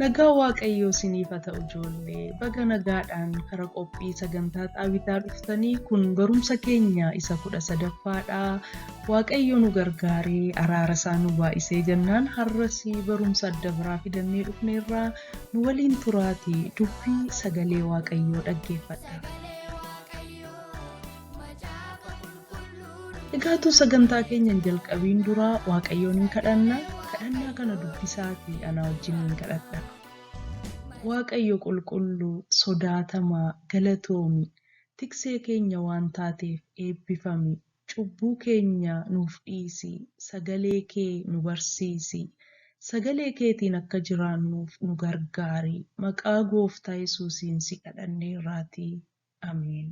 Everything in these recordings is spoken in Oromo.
Nagaa Waaqayyoo isiniif haa ta'u ijoollee. Baga nagaadhaan kara qophii sagantaa xaawitaa dhuftanii kun barumsa keenya isa kudha sadaffaadha. Waaqayyo nu gargaaree araara isaa nu baay'isee jennaan har'as barumsa adda biraa fidannee dhufneerraa nu waliin turaati dubbii sagalee Waaqayyoo dhaggeeffadha. Egaa utuu sagantaa keenya hin jalqabiin dura Waaqayyoon hin kadhanna. Kadhannaa kana dubbisaatii anaa wajjin hin kadhadha. Waaqayyo qulqulluu, sodaatamaa, galatoomi. Tiksee keenya waan taateef eebbifami. Cubbuu keenya nuuf dhiisi. Sagalee kee nu barsiisi. Sagalee keetiin akka jiraannuuf nu gargaari. Maqaa gooftaa Yesuusiin si kadhanneerraatii. Ameen.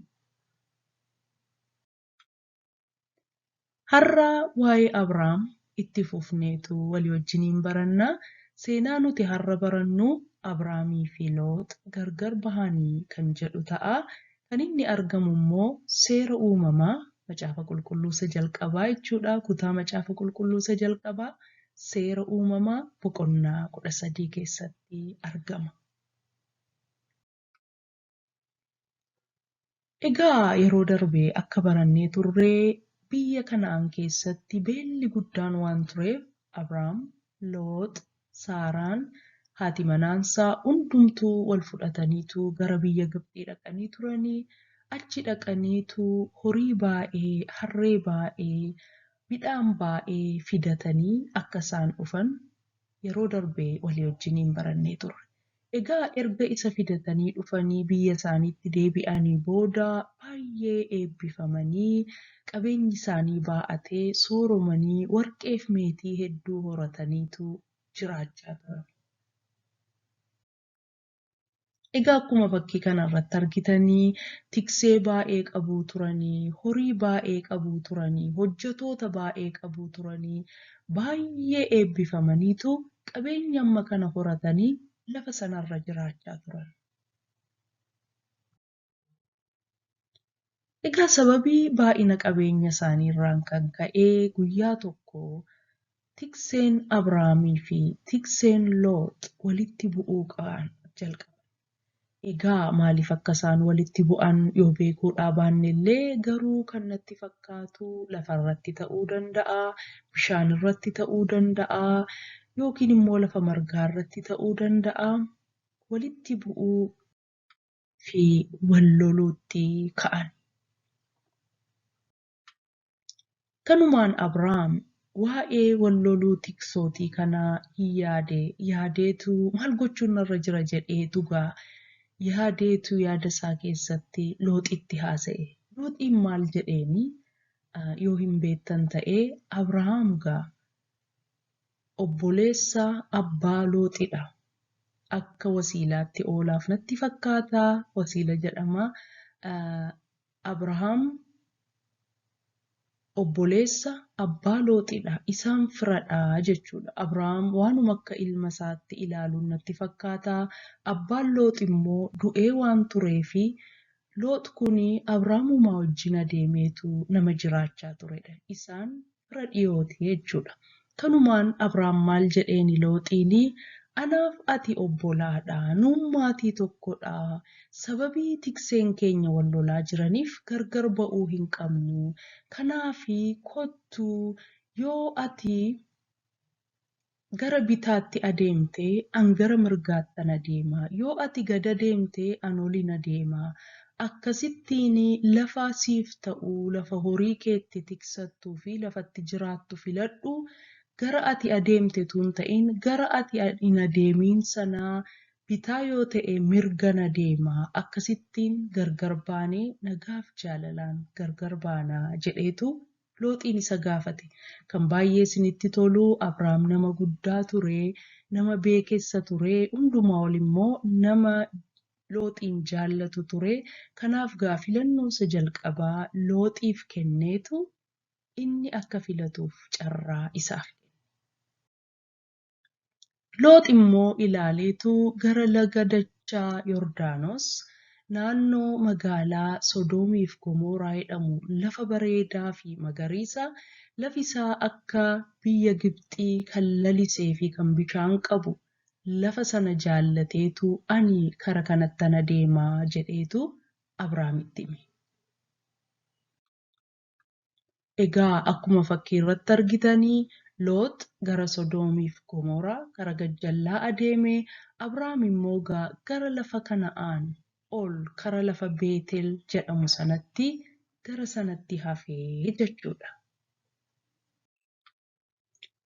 Har'a waa'ee Abrahaam itti fufneetu walii wajjiniin baranna. Seenaa nuti har'a barannu Abrahaamii fi Loox gargar bahanii kan jedhu ta'a. Kan inni argamu immoo seera uumamaa macaafa qulqulluu isa jalqabaa jechuudha. Kutaa macaafa qulqulluu isa jalqabaa seera uumamaa boqonnaa kudha sadii keessatti argama. Egaa yeroo darbe akka barannee turre biyya Kana'aan keessatti beelli guddaan waan tureef Abraam, Loox, Saaraan, haati manaansaa hundumtuu wal fudhataniitu gara biyya Gibxii dhaqanii turanii achi dhaqaniitu horii baay'ee, harree baay'ee, midhaan baay'ee fidatanii akka isaan dhufan Yeroo darbe walii wajjiniin barannee turre. Egaa erga isa fidatanii dhufanii biyya isaaniitti deebi'anii booda baay'ee eebbifamanii qabeenyi isaanii baa'atee sooromanii warqeef meetii hedduu horataniitu jiraachaa turan. Egaa akkuma fakkii kana irratti argitanii tiksee baay'ee qabuu turanii, horii baay'ee qabuu turanii, hojjetoota baay'ee qabuu turanii, baay'ee eebbifamaniitu qabeenya amma kana horatanii lafa sana irra jiraachaa turan. Egaa sababii baay'ina qabeenya isaanii irraan kan ka'e guyyaa tokko tikseen Abrahaamii fi tikseen Loox walitti bu'uu qaan jalqaban. Egaa maaliif akka isaan walitti bu'an yoo beekuudhaa baanne illee garuu kan natti fakkaatu lafa irratti ta'uu danda'a, bishaan irratti ta'uu danda'a yookiin immoo lafa margaa irratti ta'uu danda'a. Walitti bu'uu fi wal loluutti ka'an. Kanumaan Abraam waa'ee wal loluu tiksootii kanaa in yaade, yaadeetu maal gochuun narra jira jedhee dhugaa yaadeetu yaada isaa keessatti Looxitti haasa'e. Looxiin maal jedheeni? Yoo hin beektan ta'ee Abrahaam gaa Obboleessa abbaa looxidha. Akka wasiilaatti oolaaf natti fakkaata wasiila jedhama. Abrahaam obboleessa abbaa looxidha isaan firadha jechuudha. Abrahaam waanuma akka ilma isaatti ilaaluun natti fakkaata. Abbaan loox immoo du'ee waan tureefi loox kuni Abraamumaa wajjin adeemeetu nama jiraachaa turedha. Isaan fira dhiyooti jechuudha. Kanumaan Abraam maal jedheeni Looxiini anaaf ati obbolaadha, nuun maatii tokkodha, sababii tikseen keenya wal lolaa jiraniif gargar ba'uu hin qabnu, kanaafi kottu yoo ati gara bitaatti adeemte, an gara mirgaattan adeema, yoo ati gad adeemte, an olin adeema, akkasittiin lafa siif ta'u, lafa horii kee itti tiksattuu fi lafa itti jiraattu filadhu, gara ati adeemte utuu hin ta'in, gara ati hin adeemin sana bitaa yoo ta'e mirgan adeema, akkasittiin gargar baanee nagaaf jaalalaan gargar baana jedheetu Looxiin isa gaafate. Kan baay'ee isinitti tolu, Abraam nama guddaa ture, nama beekessa ture, hundumaa ol immoo nama Looxiin jaallatu ture. Kanaaf gaa filannoo isa jalqabaa Looxiif kenneetu inni akka filatuuf carraa isaaf kenne. Loox immoo ilaaleetu gara laga dachaa Yordaanos, naannoo magaalaa Sodoomiif Gomooraa jedhamu lafa bareedaa fi magariisa, lafi isaa akka biyya Gibxii kan lalisee fi kan bishaan qabu, lafa sana jaallateetu ani kara kanattan adeema jedheetu Abraamitti hime. Egaa akkuma fakkii irratti argitanii Loox gara Sodoomii fi Gomoraa, gara gajjallaa adeeme, Abraam immoo ga gara lafa Kana'aan ol kara lafa Beetel jedhamu sanatti gara sanatti hafe jechuu dha.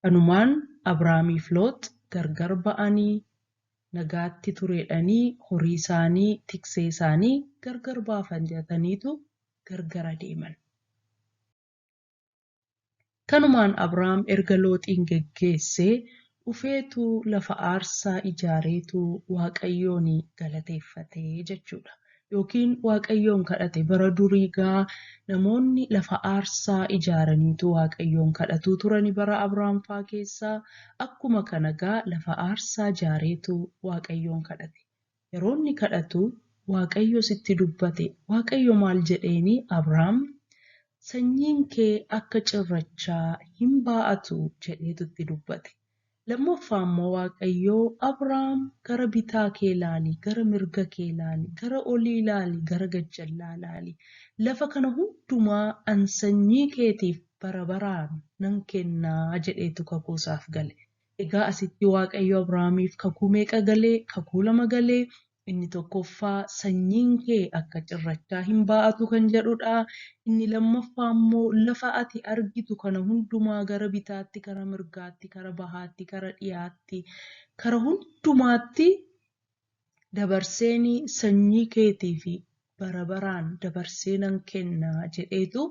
Kanumaan Abraamiif Loox gargar ba'anii nagaatti tureedhanii horiisaanii, tikseesaanii gargar baafajataniitu gargar adeeman. Kanumaan Abraam erga Looxiin geggeessee dhufeetu lafa aarsaa ijaareetu Waaqayyoon galateeffate jechuudha. Yookiin Waaqayyoon kadhate. Bara durii egaa namoonni lafa aarsaa ijaaraniitu Waaqayyoon kadhatuu turani bara Abraam faa keessa. Akkuma kana egaa lafa aarsaa ijaareetu Waaqayyoon kadhate. Yeroo inni kadhatu Waaqayyo sitti dubbate. Waaqayyo maal jedheeni Abraam sanyiin kee akka cirrachaa hin baa'atu jedheetu itti dubbate. Lammaffaa immoo Waaqayyo Abraam gara bitaa kee laali, gara mirga kee laali, gara olii laali, gara gajjallaa laali. Lafa kana hundumaa an sanyii keetiif bara baraan nan kennaa jedheetu kakuu isaaf gale. Egaa asitti Waaqayyo Abrahaamiif kakuu meeqa gale? Kakuu lama gale. Inni tokkoffaa sanyiin kee akka cirrachaa hin baa'atu kan jedhudha. Inni lammaffaa immoo lafa ati argitu kana hundumaa gara bitaatti, gara mirgaatti, kara bahaatti, kara dhiyaatti, kara hundumaatti dabarseen sanyii keetiif bara baraan dabarsee nan kenna jedheetu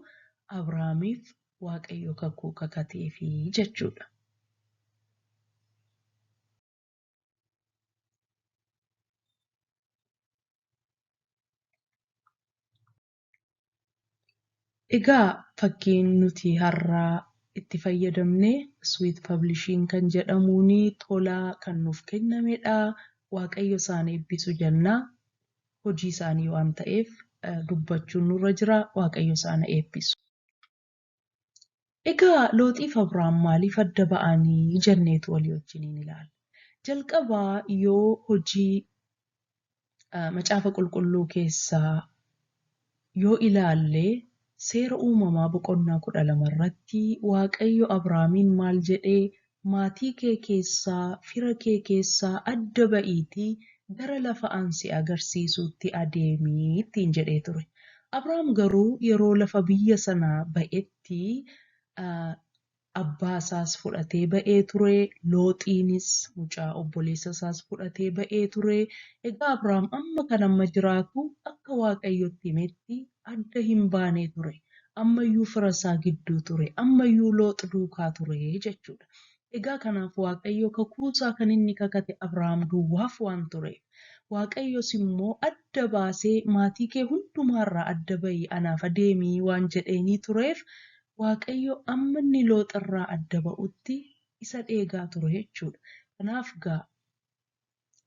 Abrahaamiif Waaqayyo kakuu kakateefi jechuudha. Egaa fakkiin nuti har'a itti fayyadamne Sweet Publishing kan jedhamuun tola kan nuuf kennamedha. Waaqayyo isaan eebbisu jenna. Hojii isaanii waan ta'eef eh, dubbachuun nurra jira. Waaqayyo isaan eebbisu. Egaa Looxiif Abraam maaliif adda ba'anii jenneetu walii wajjiniin ilaalla. Jalqabaa yoo hojii macaafa qulqulluu keessaa yoo ilaalle seera uumamaa boqonnaa kudha lama irratti Waaqayyo Abraamiin maal jedhee maatii kee keessaa, fira kee keessaa adda ba'iitii gara lafa an si agarsiisuutti adeemi ittiin jedhee ture. Abraam garuu yeroo lafa biyya sanaa ba'etti abbaa isaas fudhatee ba'ee ture, Looxiinis mucaa obboleessa isaas fudhatee ba'ee ture. Egaa Abraam amma kan amma jiraatu akka Waaqayyo itti himetti adda hin baane ture. Ammayyuu fira isaa gidduu ture. Ammayyuu Loox duukaa ture jechuu dha. Egaa kanaaf Waaqayyo kakuu isaa kan inni kakate Abrahaam duwwaaf waan tureef. Waaqayyos immoo adda baasee maatii kee hundumaa irraa adda ba'i anaaf adeemi waan jedheenii tureef Waaqayyo amma inni Loox irraa adda ba'utti isa dheegaa ture jechuu dha. Kanaaf gaa.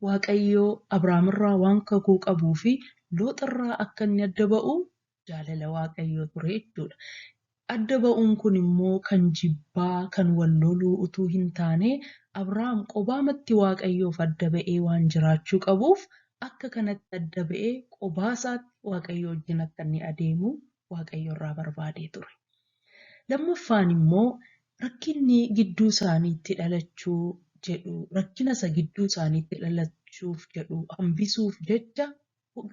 Waaqayyo Abraamirraa waan kakuu qabuu fi Looxirraa akka inni adda ba'u jaalala Waaqayyoo ture jechuudha. Adda ba'uun kun immoo kan jibbaa, kan wal loluu utuu hin taane Abraam qobaamatti Waaqayyoof adda ba'ee waan jiraachuu qabuuf akka kanatti adda ba'ee qobaasaatti Waaqayyoo wajjin akka inni adeemu Waaqayyo irraa barbaadee ture. Lammaffaan immoo rakkinni gidduu isaaniitti dhalachuu jedhu rakkina isa gidduu isaaniitti dhalachuuf jedhu hambisuuf jecha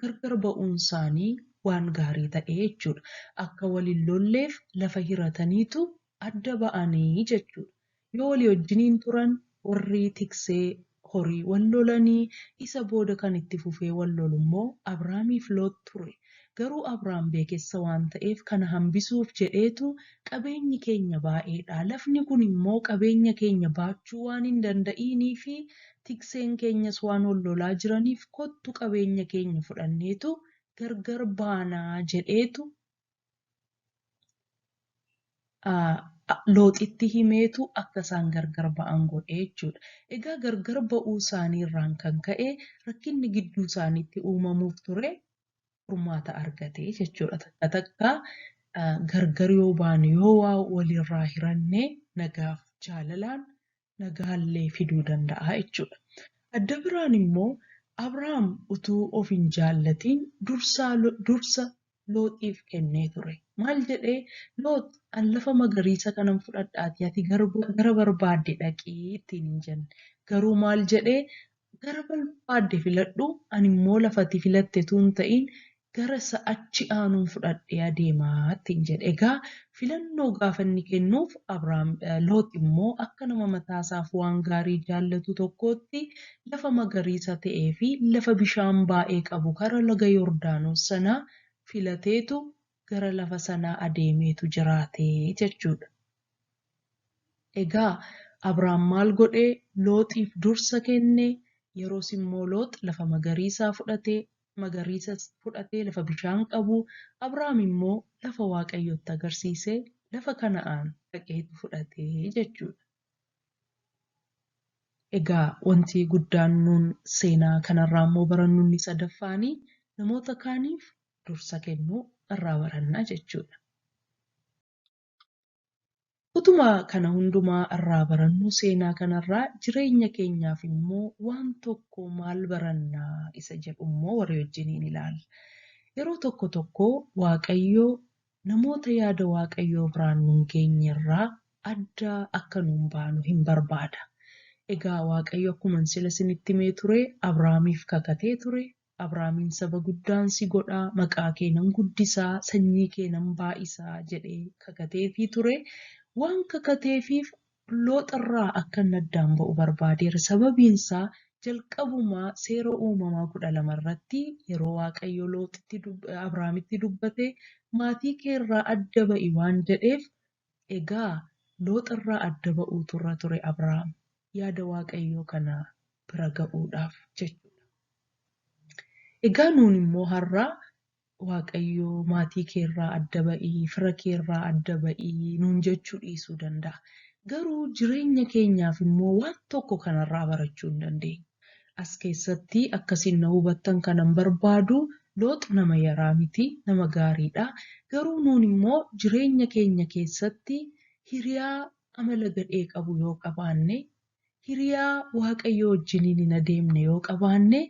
gargar ba'uun isaanii waan gaarii ta'e jechuudha. Akka wal hin lolleef lafa hirataniitu adda ba'anii jechuudha. Yoo walii wajjiniin turan warri tiksee horii wal lolanii isa booda kan itti fufee wal lolummoo Abraamiif Loox ture. Garuu Abraam beekessa waan ta'eef kana hambisuuf jedheetu qabeenyi keenya baay'eedha, lafni kun immoo qabeenya keenya baachuu waan hin danda'iiniifi tikseen keenyas waan wal lolaa jiraniif kottu qabeenya keenya fudhanneetu gargar baanaa jedheetu Looxitti himeetu akka isaan gargar ba'an godhe jechuudha. Egaa gargar ba'uu isaanii irraan kan ka'e rakkinni gidduu isaaniitti uumamuuf ture furmaata argate jechuudha. Takka takka gargar yoo baanu yoo waa walirraa hiranne nagaaf jaalalaan nagaallee fiduu danda'a jechuudha. Adda biraan immoo Abrahaam utuu of hin jaallatiin dursaa dursa Looxiif kennee ture. Maal jedhee Loox an lafa magariisa kanan fudhadhaatii ati gara barbaadde dhaqii ittiin hin jenne. Garuu maal jedhee Gara barbaadde filadhu, ani immoo lafa ati filatte utuu hin ta'in gara isa achi aanuun fudhadhee adeema ittiin jedhe. Egaa filannoo gaafa inni kennuuf Abraam, Loox immoo akka nama mataa isaaf waan gaarii jaallatu tokkootti lafa magariisa ta'ee fi lafa bishaan baay'ee qabu kara laga Yordaanos sanaa filateetu gara lafa sanaa adeemeetu jiraate jechuudha. Egaa Abraam maal godhe? Looxiif dursa kenne, yeroos immoo Loox lafa magariisaa fudhate, magariisas fudhatee lafa bishaan qabu, Abraam immoo lafa Waaqayyo itti agarsiise, lafa Kana'aan dhaqeetu fudhate jechuudha. Egaa wanti guddaan nuun seenaa kanarraa immoo barannu inni sadaffaani namoota kaaniif dursa kennuu irraa baranna jechuudha. Utuma kana hundumaa irraa barannuu seenaa kanarraa jireenya keenyaaf immoo waan tokko maal baranna isa jedhu immoo walii wajjiniin ilaalla. Yeroo tokko tokko Waaqayyo namoota yaada Waaqayyoo biraan nun geenye irraa adda akka nun baanu hin barbaada. Egaa Waaqayyo akkuman sila isinitti himee ture Abrahaamiif kakatee ture, Abraamin saba guddaan si godha, maqaa kee nan guddisa, sanyii kee nan baay'isa jedhee kakateefii ture. Waan kakateefiif Loox irraa akka inni addaan ba'u barbaadeera. Sababiin isaa jalqabumaa seera uumamaa kudha lama irratti yeroo Waaqayyo Looxitti Abraamitti dubbate maatii kee irraa adda ba'i waan jedheef Egaa Loox irraa adda ba'uutu irra ture Abrahaam yaada Waaqayyoo kana bira ga'uudhaaf jechuudha. Egaa nuun immoo har'a Waaqayyo maatii kee irraa adda ba'i, fira kee irraa adda ba'i nuun jechuu dhiisuu danda'a. Garuu jireenya keenyaaf immoo waan tokko kanarraa barachuu hin dandeenyu. As keessatti akka isin na hubattan kanan barbaadu Loox nama yaraa miti, nama gaariidha. Garuu nuun immoo jireenya keenya keessatti hiriyaa amala gadhee qabu yoo qabaanne, hiriyaa Waaqayyoo wajjiniin hin adeemne yoo qabaanne,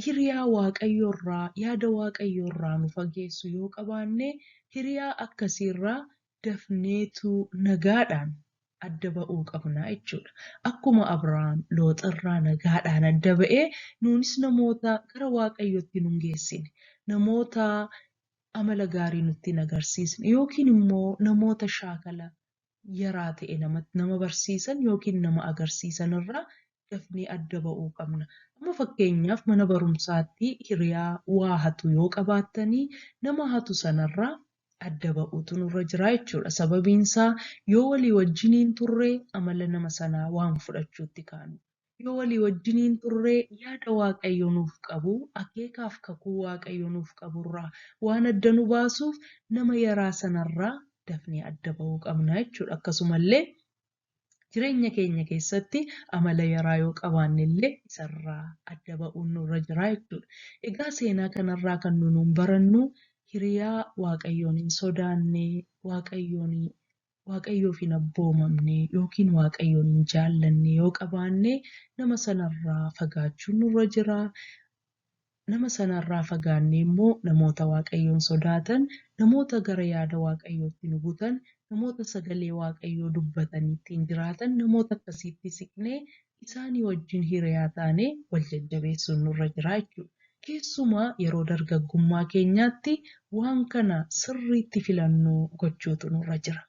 hiriyaa Waaqayyo irraa, yaada Waaqayyoo irraa nu fageessu yoo qabaanne hiriyaa akkasii irraa dafneetu nagaadhaan adda ba'uu qabna jechuudha. Akkuma Abrahaam Looxirraa nagaadhaan adda ba'e nuunis namoota gara Waaqayyootti nun geessine, namoota amala gaarii nutti hin agarsiisne yookiin immoo namoota shaakala yaraa ta'e namatti nama barsiisan yookiin nama agarsiisan irraa dafnee adda ba'uu qabna. Amma fakkeenyaaf mana barumsaatti hiriyaa waa hatu yoo qabaattanii nama hatu sanarraa adda ba'uutu nurra jira jechuudha. Sababiin isaa yoo walii wajjin hin turre amala nama sanaa waan fudhachuutti kaanu. Yoo walii wajjin hin turre yaada Waaqayyo nuuf qabu, akeekaaf kakuu Waaqayyo nuuf qabu irraa waan adda nu baasuuf nama yaraa sanarraa dafnee adda ba'uu qabna jechuudha. Akkasumallee Jireenya keenya keessatti amala yaraa yoo qabaanne illee isarraa adda ba'uun nurra jira jechuudha. Egaa seenaa kanarraa kan nu nuun barannu hiriyaa Waaqayyoon hin sodaanne, Waaqayyoon Waaqayyoof hin abboomamne yookiin Waaqayyoon hin jaallanne yoo qabaanne nama sanarraa fagaachuun nurra jira. Nama sana irraa fagaannee immoo namoota Waaqayyoon sodaatan, namoota gara yaada Waaqayyootti nu butan, namoota sagalee Waaqayyoo dubbatanii ittiin jiraatan, namoota akkasiitti siqnee isaanii wajjin hiriyaa taanee wal jajjabeessuun nurra jira jechuudha. Keessumaa yeroo dargaggummaa keenyaatti waan kana sirriitti filannoo gochuutu nurra jira.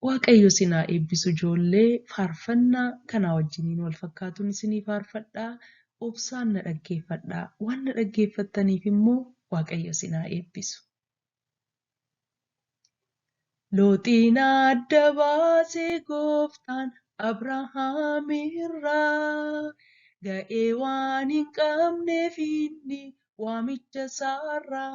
Waaqayyo isin haa eebbisu ijoollee faarfannaa kanaa wajjiniin wal fakkaatuun isinii faarfadhaa obsaan na dhaggeeffadhaa waan na dhaggeeffattaniif immoo Waaqayyo isin haa eebbisu. Looxiin adda baasee gooftaan Abrahaam irraa ga'ee waan hin qabneef inni waamicha isaarraa.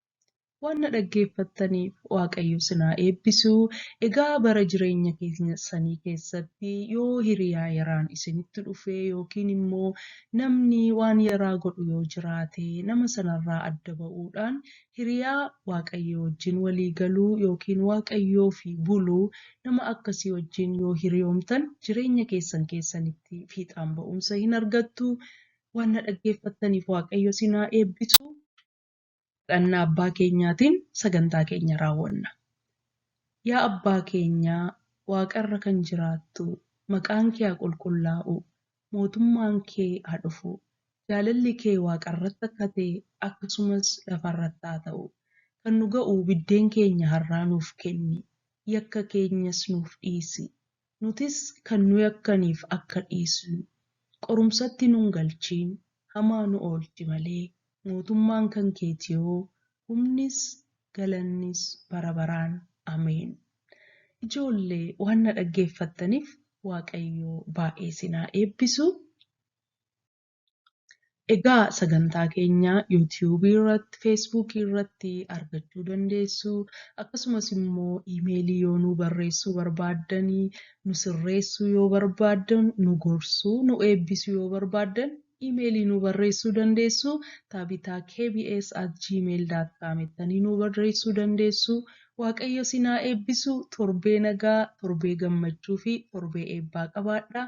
Waan na dhaggeeffattaniif Waaqayyo sin haa eebbisu. Egaa bara jireenya keessanii keessatti yoo hiriyaa yaraan isinitti dhufe yookiin immoo namni waan yaraa godhu yoo jiraate nama sanarraa adda ba'uudhaan hiriyaa Waaqayyoo wajjin walii galuu yookiin Waaqayyoof buluu nama akkasii wajjin yoo hiriyoomtan jireenya keessan keessanitti fiixaan ba'umsa hin argattu. Waan na dhaggeeffattaniif Waaqayyo sin haa eebbisu. Kadhannaa Abbaa keenyaatiin sagantaa keenya raawwanna. Yaa Abbaa keenya waaqarra kan jiraattu, maqaan kee haa qulqullaa'u, mootummaan kee haa dhufu, jaalalli kee waaqarratti akka ta'e akkasumas lafarratti haa ta'u. Kan nu ga'u biddeen keenya har'aa nuuf kenni, yakka keenyas nuuf dhiisi, Nutis kan nu yakkaniif akka dhiisnu, qorumsatti nun galchiin, hamaa nu oolchi malee, mootummaan kan keetiyoo, humnis, galannis bara baraan. Ameen. Ijoolle waan na dhaggeeffattanif Waaqayyoo baay'ee isin haa eebbisu. Egaa sagantaa keenya YouTube irratti, Facebook irratti argachuu dandeessu. Akkasumas immoo iimeelii yoo nu barreessuu barbaaddan, nu sirreessuu yoo barbaaddan, nu gorsuu, nu eebbisuu yoo barbaaddan iimeelii nu barreessuu dandeessu. Taabitaa kbs at gmail.com ittanii nu barreessuu dandeessu. Waaqayyo sinaa eebbisu torbee nagaa, torbee gammachuu fi torbee eebbaa qabaadhaa.